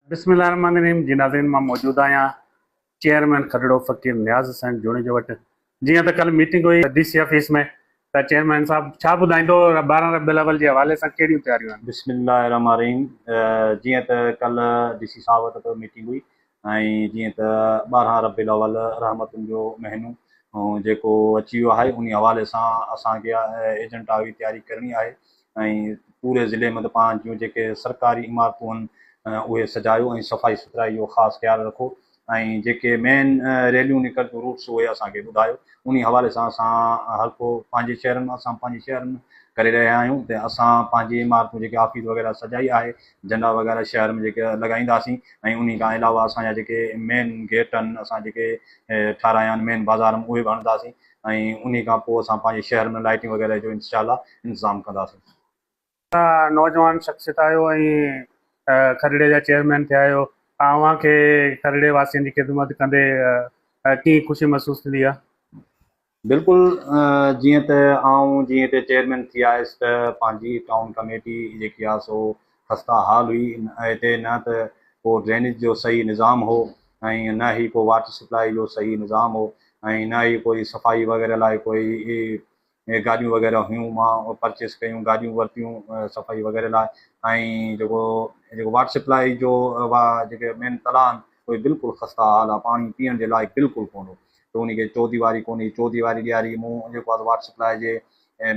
بسم الله الرحمٰن الرحيم جي ناظرين مان موجود آهيان چيئرمين کڏڙو فقير نياز حسين جوڻيجو وٽ جيئن ته ڪلهه ميٽنگ هئي ڊي سي آفيس ۾ ته چيئرمين صاحب ڇا ٻڌائيندو ٻارهن ربيع الاول جي حوالي سان ڪهڙيون تياريون آهن. بسم الله الرحمٰن الرحيم جيئن ته ڪلهه ڊي سي صاحب وٽ به ميٽنگ هئي ۽ جيئن ته ٻارهن ربيع الاول رحمتن جو مهينو جيڪو اچي ويو آهي انهي حوالي سان اسان کي ايجنٽا هئي تياري ڪرڻي آهي ۽ پوري ضلعي ۾ ته پاڻ جون جيڪي سرڪاري عمارتون آهن اهي سجايو ۽ صفائي سٿرائي جو خاص خيال رکو ۽ جيڪي مين ريليون نڪرنديون روٽس اهي اسان کي ٻڌايو انهي حوالي سان اسان هر ڪو پنهنجي شهرن مان اسان پنهنجي شهر ۾ ڪري رهيا آهيون ته اسان پنهنجي عمارتون جيڪي آفيس وغيره سجائي آهي جهنڊا وغيره شهر ۾ جيڪي لڳائينداسين ۽ انهي کان علاوه اسان جا جيڪي مين گيٽ آهن اسان جيڪي ٺارايا آهن مين بازار ۾ اهي به هڻنداسين ۽ انهي کان پوء اسان پنهنجي شهر ۾ لائٽنگ وغيره جو انشاء الله انتظام ڪنداسين. توهان نوجوان شخصيت آهيو ۽ کلڙي جا چيئرمين ٿيا آهيو اوهان کي کلڙي واسين جي خدمت ڪندي ڪيئن خوشي محسوس ٿيندي آهي؟ بلڪل جيئن ته آئون جي هتي چيئرمين ٿي آيس ته پنهنجي ٽائون ڪميٽي جيڪي آهي سو خسته حال هئي هتي نه ته ڪو ڊرينيج جو صحيح نظام هو ۽ نه ئي ڪو واٽر سپلائي جو صحيح نظام هو ۽ نه ئي ڪوئي صفائي وغيره لاء ڪوئي گاڏيون وغيره هيون مان پرچيز ڪيون گاڏيون ورتيون صفائي وغيره لاء ۽ جيڪو جيڪو واٽر سپلائي جو وا جيڪي مين تلاء آهن اهي بلڪل خسته حال آهي پاڻي پيئڻ جي لائق بلڪل ڪون هو ته ان کي چوديواري ڪون هئي چوديواري ڏياري مون جيڪو واٽر سپلائي جي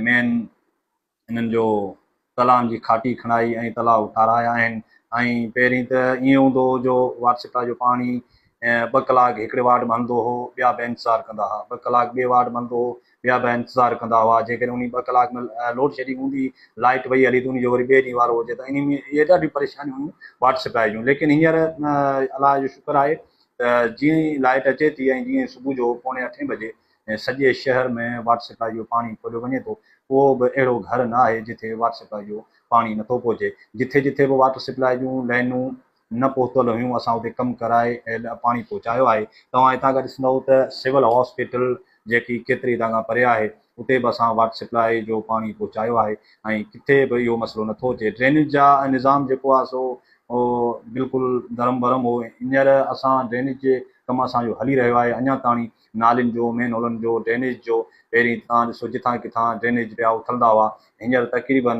مين انهن جو تلائن جي کاٽي کڻائي ۽ تلاء ٺارايا آهن ۽ پهرين ته ائين هوندو هو جو وارسٽا جو پاڻي ٻه ڪلاڪ هڪڙي وارڊ ۾ هلندو هو، ٻيا به انتظار ڪندا ها، ٻه ڪلاڪ ٻئي وارڊ ۾ هلندو هو، ٻيا به انتظار ڪندا هئا، جيڪڏهن انهي ٻه ڪلاڪ ۾ لوڊ شيڊنگ هوندي، لائيٽ وئي هلي ته انهي جو وري ٻئي ڏينهن وارو هجي ته انهي ۾ اهي ڏاڍيون پريشانيون هيون وارسٽا جون ليڪن هينئر الله جو شڪر آهي ته جيئن ئي لائيٽ اچي ٿي ۽ جيئن ئي صبح جو پوڻي اٺين بجي ۽ سڄي شهر ۾ واٽر سپلائي جو پاڻي کوڏيو وڃي ٿو، ڪو به اهڙو گهر نه آهي جتي واٽر سپلائي جو پاڻي نٿو پهچي، جٿي جٿي به واٽر سپلائي جون لائنون نه پهتل هيون اسان اتي ڪم ڪرائي پاڻي پهچايو آهي، توهان هتان کان ڏسندؤ ته سول هاسپيٽل جيڪي ڪيتري هتان کان پري آهي اتي به اسان واٽر سپلائي جو پاڻي پهچايو آهي ۽ ڪٿي به اهو مسئلو نٿو اچي، ڊرينيج جا نظام جيڪو آهي سو بلڪل درهم برهم هو، هينئر اسان ڊرينيج جي ڪم اسان جو هلي رهيو آهي اڃان تاڻي نالين جو، مين هولن جو، ڊرينيج جو، پهرين توهان ڏسو جتان ڪٿان ڊرينيج پيا اٿلندا هئا، هينئر تقريباً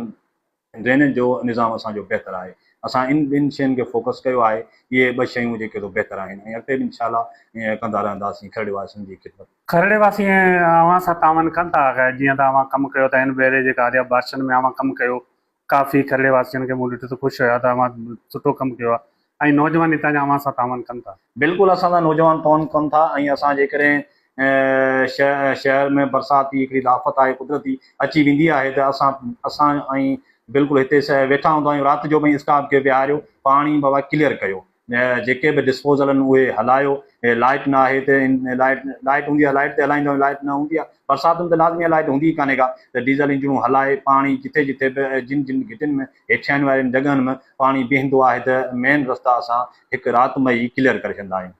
ڊرينيج جو نظام اسان جو بهتر آهي، اسان ان ٻن شين کي فوڪس ڪيو آهي، اهي ٻه شيون جيڪي سو بهتر آهن ۽ اڳتي به انشاء الله ائين ڪندا رهنداسين کهرڙي واسين جي خدمت. کهرڙي واسي اوهان سان تعاون ڪن ٿا جيئن ته اوهان ڪم ڪيو ته هن ڀيري جيڪا آريا بارشن ۾ اوهان ڪم ڪيو ڪافي کهرڙي واسين کي مون ڏٺو ته خوش هيا ته اوهان سٺو ڪم ڪيو آهي ۽ نوجوان هتان جا اوهان سان تعاون ڪن ٿا. بلڪل اسان سان نوجوان تعاون ڪن ٿا ۽ اسان جيڪڏهن شهر ۾ برسات جي هڪڙي آفت آهي قدرتي اچي ويندي آهي ته اسان اسان ۽ بلڪل هتي ويٺا هوندا آهيون رات جو به اسٽاف کي ويهاريو پاڻي بابا ڪليئر ڪيو جيڪي به ڊسپوزل آهن اهي هلايو، لائيٽ نه آهي ته لائيٽ هوندي آهي لائيٽ تي هلائيندا آهيون لائيٽ نه هوندي آهي برساتن ته لازمي آهي لائيٽ هوندي ئي ڪانهي ڪا ته ڊيزل انجڻون هلائي پاڻي جتي جتي به جن جن گهٽين ۾ هيٺيائين وارين جڳهن ۾ پاڻي بيهندو آهي ته مين رستا اسان هڪ رات ۾ ئي ڪليئر ڪري ڇڏيندا آهيون.